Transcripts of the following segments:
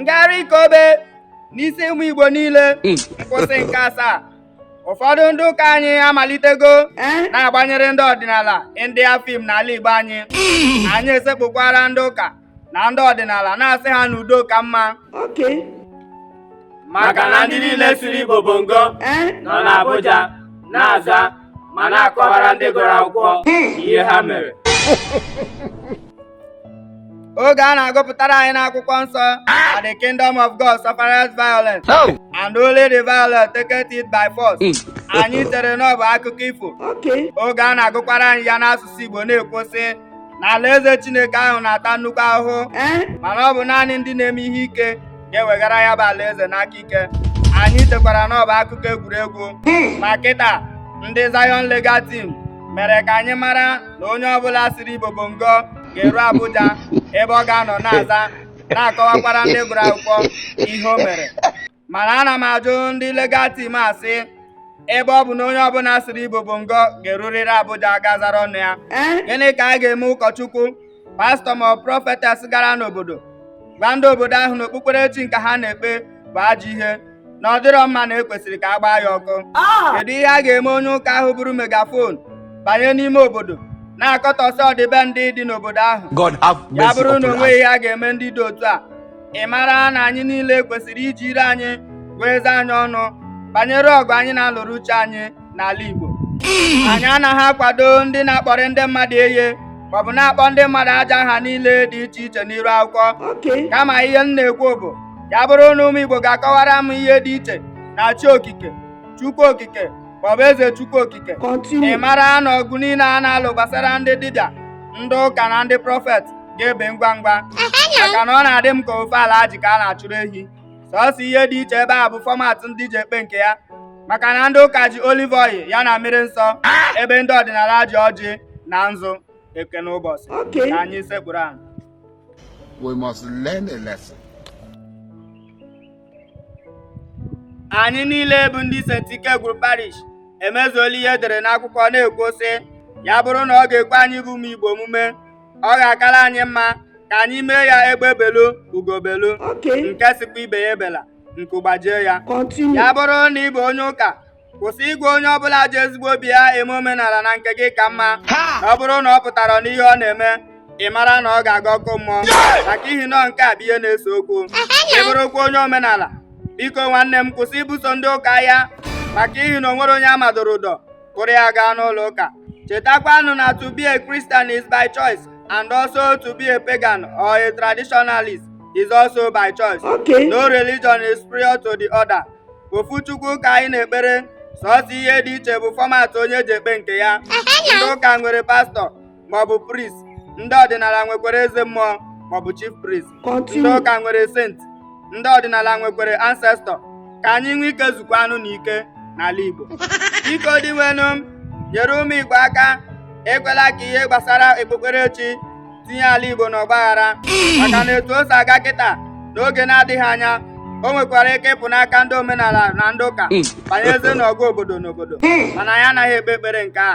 ngagharị ike obe n'isi ụmụ Igbo niile nkwụsị nke asaa ụfọdụ ndị ụka anyị amalitego na-agbanyere ndị ọdịnala India film n'ala Igbo anyị anyị esekpukwara ndị ụka na ndị ọdịnala na-asị ha n'udo ka mma maka na ndị niile siri Igbo bongo nọ n'Abuja na-aza ma na-akọwara ndị gụrụ akwụkwọ ihe ha mere oge a na-agụpụtara anyị n'akwụkwọ nsọ na the kingdom of God suffereth violence and only the violent taketh it by force anyị chere na ọ bụ akụkọ ifo oge a na-agụkwara anyị ya n'asụsụ Igbo na-ekwu sị na alaeze Chineke ahụ na-ata nnukwu ahụhụ mana ọ bụ naanị ndị na-eme ihe ike ga-eweghara ya bụ alaeze n'aka ike anyị chekwara na ọ bụ akụkọ egwuregwu ma kịta ndị Zion Legal Team mere ka anyị mara na onye ọbụla siri Igbo bongo ga-eru Abuja ebe ọ ga-anọ na-aza na-akọwakwara ndị gụrụ akwụkwọ ihe o mere mana ana m ajụ ndị legal team asị ebe ọ bụ na onye ọbụla siri Igbo bongo ga-erurịrị Abuja ga zara ọnụ ya eh? gịnị ka a ga-eme ụkọchukwu pastọ ma prọfetes gara n'obodo gwa ndị obodo ahụ na okpukperechi nke ha na-ekpe bụ ajọ ihe na ọ dịrọ mma na e kwesịrị ka a gbaa ya ọkụ ah! kedu ihe a ga-eme onye ụka ahụ buru megafon banye n'ime obodo na-akọtọsị ọdịbendị dị n'obodo ahụ ya bụrụ na o nweghị ihe a ga-eme ndị dị otu a ị mara na anyị niile kwesịrị iji ire anyị gụọ eze anyị ọnụ banyere ọgụ anyị na-alụrụ uche anyị n'ala Igbo mm. anyị anaghị akwado ndị na-akpọrị ndị mmadụ iyi maọbụ na-akpọ ndị mmadụ ajọ aha niile dị iche iche n'iru akwụkwọ kama ihe m na-ekwu bụ ya bụrụ na ụmụ Igbo ga-akọwara m ihe dị iche na chi okike Chukwu okike maọbụ eze Chukwu okike ị mara na ọgụ niile a na-alụ gbasara ndị dibịa ndị ụka na ndị prọfet ga-ebe ngwa ngwa maka na ọ na-adị m ka ofu Alhaji ka a na-achụrụ ehi sọsọ ihe dị iche ebe a bụ fọmat ndị ji ekpe nke ya maka na ndị ụka ji olive oil ya na mmiri nsọ ebe ndị ọdịnala ji ọjị na nzu ekene ụbọchị Okay. ka anyị sekpuru ala We must learn a lesson. anyị niile bụ ndị St. Ikegwuru parish emezuola ihe e dere n'akwụkwọ na-ekwu sị ya bụrụ na ọ ga-ekwe anyị bụ ụmụ Igbo omume ọ ga-akara anyị mma ka anyị mee ya egbe belu ugo belu nke sịkwa ibe ya ebela nku gbajie ya ya bụrụ na ị bụ onye ụka kwụsị ịgwa onye ọbụla ji ezigbo obi ya eme omenala na nke gị ka mma na ọ bụrụ na ọ pụtarọ n'ihe ọ na-eme ị mara na ọ ga-aga ọkụ mmụọ maka ihi na nke a bụ ihe na-ese okwu ị bụrụkwa onye omenala biko nwanne m kwụsị ibuso ndị ụka agha maka ihi na o nwerọ onye a madoro ụdọ kpụrụ ya gaa n'ụlọ ụka chetakwanụ na to be a Christian is by choice and also to be a pagan or a traditionalist is also by choice okay. no religion is prior to the other ofu chukwu ka anyị na-ekpere sọsọ ihe dị iche bụ format onye ji ekpe nke ya ndị ụka nwere pastọ maọbụ priest ndị ọdịnala nwekwara eze mmụọ maọbụ chief priest ndị ụka nwere saint ndị ọdịnala nwekwara ancestor ka anyị nwee ike zukwanụ n'ike n'ala Igbo biko Dinwenụ nyere ụmụ Igbo aka ekwela ka ihe gbasara okpukperechi tinye ala Igbo n'ọgbaghara maka na etu o si aga kịta n'oge na-adịghị anya o nwekwara ike ịpụ n'aka ndị omenala na ndị ụka mm. banyezie n'ọgụ obodo n'obodo mm. mana anyị anaghị ekpe ekpere nke a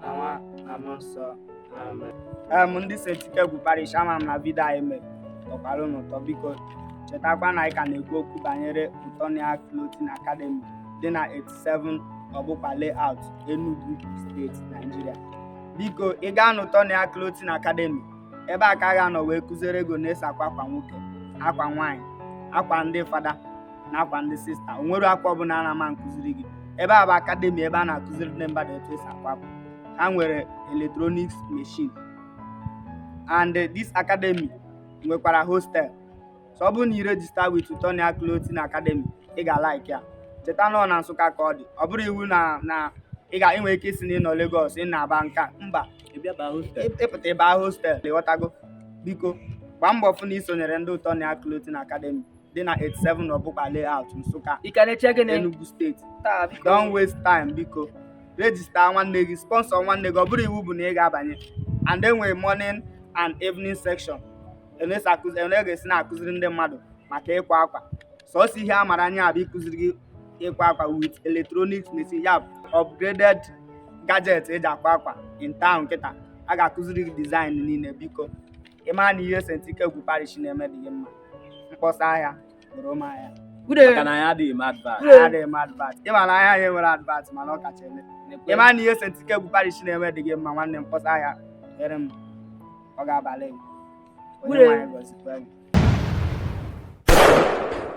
na nwa na mmụọ nsọ amen em ndị Saint Ikegwu parish ama m na vidio anyị mere tọkwara unu ụtọ biko chetakwa na anyị ka na-ekwu okwu banyere Utonia Clothing Academy dị na 87 Ọbụkpa Layout Enugu steeti Nigeria biko ị gaa na Utonia Clothing Academy ebe a ka a ga-anọ wee kụziere gị ene esi akwa akwa nwoke akwa nwaanyị akwa ndị fada na akwa ndị sista o nwero akwa ọbụla a na-ama nkụziri gị ebe a bụ akademi ebe a na-akụziri ndị mmadụ etu esi akwa akwa ha nwere electronics machine and this academy nwekwara hostel so ọ bụrụ na ị rejista with Utonia Clothing Academy ị ga-alaiki ya cheta na ọ na Nsụka ka ọ dị ọ bụrọ iwu na na ị ga-enwe ike isi na ị nọ Lagos ị na-aba nka mba ị pụta ị ba hostel ịghọtago biko gbaa mbọ fụ na i sonyere ndị Utonia Clothing Academy dị na 87 Ọbụkpa Layout Nsụka ị ka na-eche gịnị Enugu steeti taa biko don't waste time biko rejista nwanne gị sponsọ nwanne gị ọ bụrọ iwu bụ na ị ga-abanye and enwere morning and evening section enesi akụzi ene ga-esi na-akụziri ndị mmadụ maka ịkwa akwa sọsọ ihe a mara anya bụ ịkụziri gị ịkwa akwa with electronics machine ya bụ upgraded gadget eji akwa akwa in town kịta a ga-akụziri gị design niile biko ị ma na ihe Saint Ikegwu parish na-eme dị gị mma m kpọsa ahịa goro m ahịa maka na anyị adịghị m advert adịghị m advert ị ma na ahịa anyị nwere advert mana ọ kacha ele ị ma na ihe Saint Ikegwu parish na-eme dị gị mma nwanne m kpọsa ahịa ere m ọ ga-abalị Onyenweanyị gọzikwa